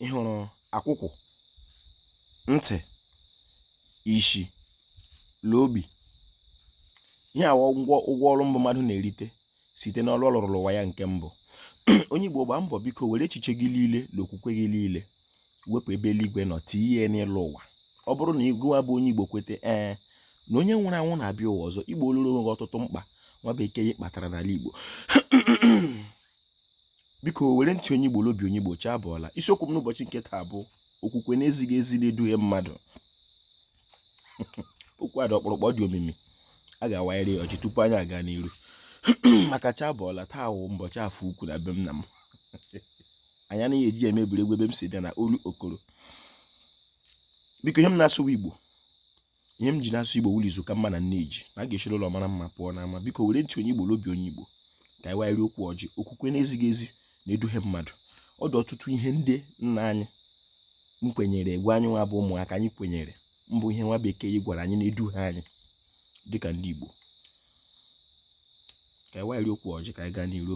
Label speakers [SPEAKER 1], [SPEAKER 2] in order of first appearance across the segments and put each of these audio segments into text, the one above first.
[SPEAKER 1] ị hụrụ akwụkwụ ntị ishi la ogbi ihe a wụ ụgwọ ọlụ mbụ mmadụ na-erite site n'ọlụ ọ lụrụ l'ụwa ya nke mbụ onye Igbo gbaa mbọ biko were echiche gị niile na okwukwe gị niile wepụ ebe eluigwe nọ tinye ya n'ịlụ ụwa ọ bụrụ na gịwa bụ onye Igbo kwete ee na onye nwụrụ anwụ na-abịa ụwa ọzọ i gbooluru onwe gị ọtụtụ mkpa nwa bekee kpatara n'ala Igbo biko were ntị onye Igbo l'obi onye Igbo chi abụọla isiokwu m n'ụbọchị nke taa bụ okwukwe na-ezighị ezi na-eduhie mmadụ okwu a dị ọkpụrụkpụ dị omimi a ga-awanyere ya ọjị tupu anyị aga n'iru maka chi abụọla taa wụ mbọchị afọ ukwu na be nna m anyị anaghị eji ya eme egwuregwu ebe m si bịa na Olokoro biko ihe m na-asụ wụ Igbo ihe m ji na-asụ igbo wụ la izu ka mma na nne ji na a ga-esiri ụlọ mara mma pụọ n'ama biko were ntị onye igbo l'obi onye igbo ka anyị wanyere okwu ọjị okwukwe na-ezighị ezi na-eduhie mmadụ ọ dị ọtụtụ ihe ndị nna anyị na-ekwenyereghị anyị nwa bụ ụmụaka anyị kwenyere bụ ihe nwa bekee gwara anyị na-eduhie anyị dịka ndị igbo ka anyị wanyere okwu ọjị ka anyị gaa n'iru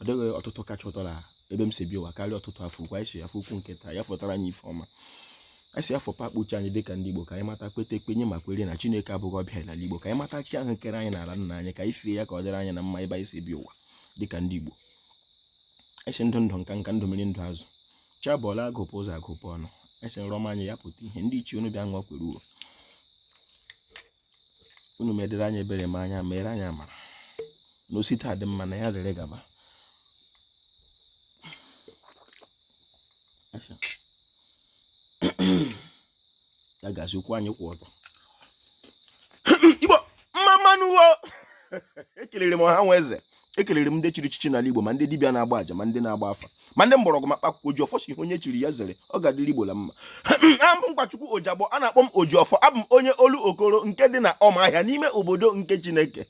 [SPEAKER 1] ọ dịghị ụtụtụ kacha ụtọ na ebe m si bịa ụwa karịa ụtụtụ afọ ukwu anyị sị afọ ukwu nke taa ya fọtara anyị ife ọma anyị sị afọ pakpuchi anyị dịka ndị Igbo ka anyị mata kweta kwenye ma kwere na Chineke abụghị ọbịa l'ala Igbo ka anyị mata chi ahụ kere anyị n'ala nna anyị ka anyị fee ya ka ọ dịrị anyị na mma ebe anyị si bịa ụwa dịka ndị Igbo anyị sị ndụ ndụ nka nka ndụ mmiri ndụ azụ chi abụọla agụpụ ụzọ agụpụ ọnụ anyị sị nrọ ọma anyị ya pụta ihe ndị ichie unu bịa ṅụọ kwere uru unu medere anyị ebere ma anya mere anyị amara na o site taa dị mma na ya dịrị gaba ya gazie okwu anyị kwụ ọtọ Igbo mma mma nụ wo ekelere m ọha nwa eze ekelere m ndị chiri echichi n'ala Igbo ma ndị dibịa na-agba aja ma ndị na-agba afa ma ndị mgbọrọgwụ ma kpakụkọ oji ọfọ sị ihe onye chiri ya zere ọ ga-adịrị Igbo la mma abụ m Nkwachukwu Ojiagbọ a na-akpọ m oji ọfọ abụ m onye Olokoro nke dị na Ọmahịa n'ime obodo nke Chineke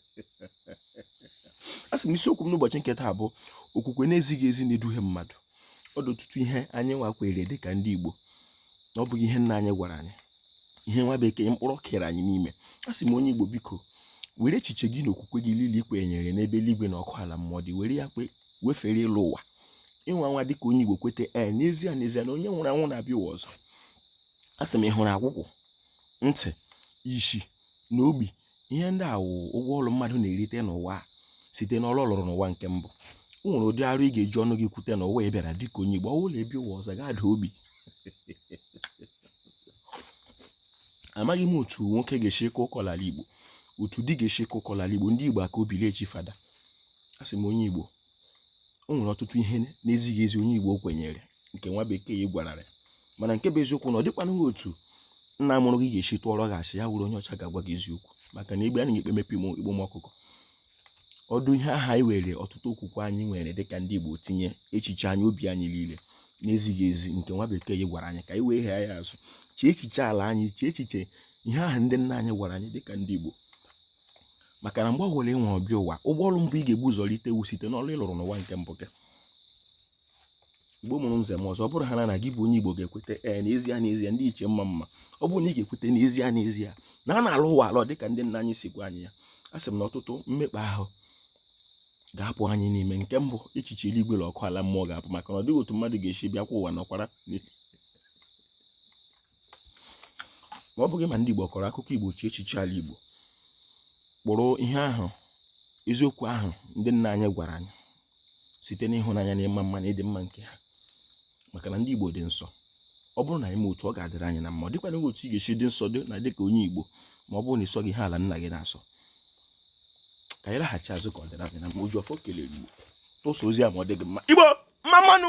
[SPEAKER 1] a sị m isiokwu m n'ụbọchị nke taa bụ okwukwe na-ezighị ezi na-eduhie mmadụ ọ dị ọtụtụ ihe anyị nwa kwere dị ka ndị Igbo na ọ bụghị ihe nna anyị gwara anyị ihe nwa bekee kpụrụ kere anyị n'ime a sị m onye igbo biko were echiche gị na okwukwe gị niile i kwenyere n'ebe eluigwe na ọkụ ala mmụọ dị were ya wefere ịlụ ụwa ịnwa nwa dịka onye igbo kwete ee n'ezie n'ezie na onye nwụrụ anwụ na-abịa ụwa ọzọ a sị m ị hụrụ akwụkwụ ntị isi na ogbi ihe ndị a wụ ụgwọ ọrụ mmadụ na-erite n'ụwa site n'ọrụ ọ lụrụ n'ụwa nke mbụ o nwere ụdị arụ ị ga-eji ọnụ gị kwute na ụwa ị bịara dịka onye igbo ọ bụrụ la ị bịa ụwa ọzọ ị ga-ada ogbi amaghị m otu nwoke ga-esi kọọ ụkọ n'ala Igbo otu di ga-esi kọọ ụkọ n'ala Igbo ndị Igbo aka obi na-echi fada asị m onye Igbo o nwere ọtụtụ ihe na-ezighị ezi onye Igbo kwenyere nke nwa bekee gwara ya mana nke bụ eziokwu na ọ dịkwanụ otu nna mụrụ gị ga-esi tụọrọ gị asị ya wụrụ onye ọcha ga-agwa gị eziokwu maka na egbe a na-ekpe m ikpe igbu m ọkụkọ ọ dị ihe aha anyị were ọtụtụ okwukwe anyị nwere dịka ndị Igbo tinye echiche anyị obi anyị niile na-ezighị ezi nke nwa bekee gwara anyị ka anyị wee ghee ya azụ chee echiche ala anyị chee echiche ihe aha ndị nna anyị gwara anyị dịka ndị Igbo maka na mgbe ọ bụla ị nwụrụ bịa ụwa ụgwọ ọrụ mbụ ị ga-ebu ụzọ rite wụ site n'ọrụ ị lụrụ n'ụwa nke mbụ gị igbo mụrụ nze mụọ ọzọ ọ bụrụ ha na na gị bụ onye igbo ga-ekweta ee n'ezie n'ezie ndị ichie mma mma ọ bụrụ na ị ga-ekweta n'ezie n'ezie na a na-alọ ụwa alọ dịka ndị nna anyị si gwa anyị ya a sị m na ọtụtụ mmekpa ahụ ga-apụ anyị n'ime nke mbụ echiche eluigwe na ọkụ ala mmụọ ga-apụ maka na ọ dịghị otu mmadụ ga-esi bịakwa ụwa nọkwara ma ọ bụghị ma ndị igbo kọrọ akụkọ igbo chee echiche ala igbo kpụrụ ihe ahụ eziokwu ahụ ndị nna anyị gwara anyị site n'ịhụnanya na ịma mma na ịdị mma nke ha maka na ndị Igbo dị nsọ ọ bụrụ na anyị mee otu ọ ga-adịrị anyị na mma ọ dịkwanụ otu ị ga-esi dị nsọ dị na dịka onye Igbo ma ọ bụrụ na ị sọghị ihe ala nna gị na-asọ ka anyị laghachi azụ ka ọ dịrị anyị na mma Ojiọfọ kelere Igbo tụsa ozi a ma ọ dị gị mma Igbo mma mmanụ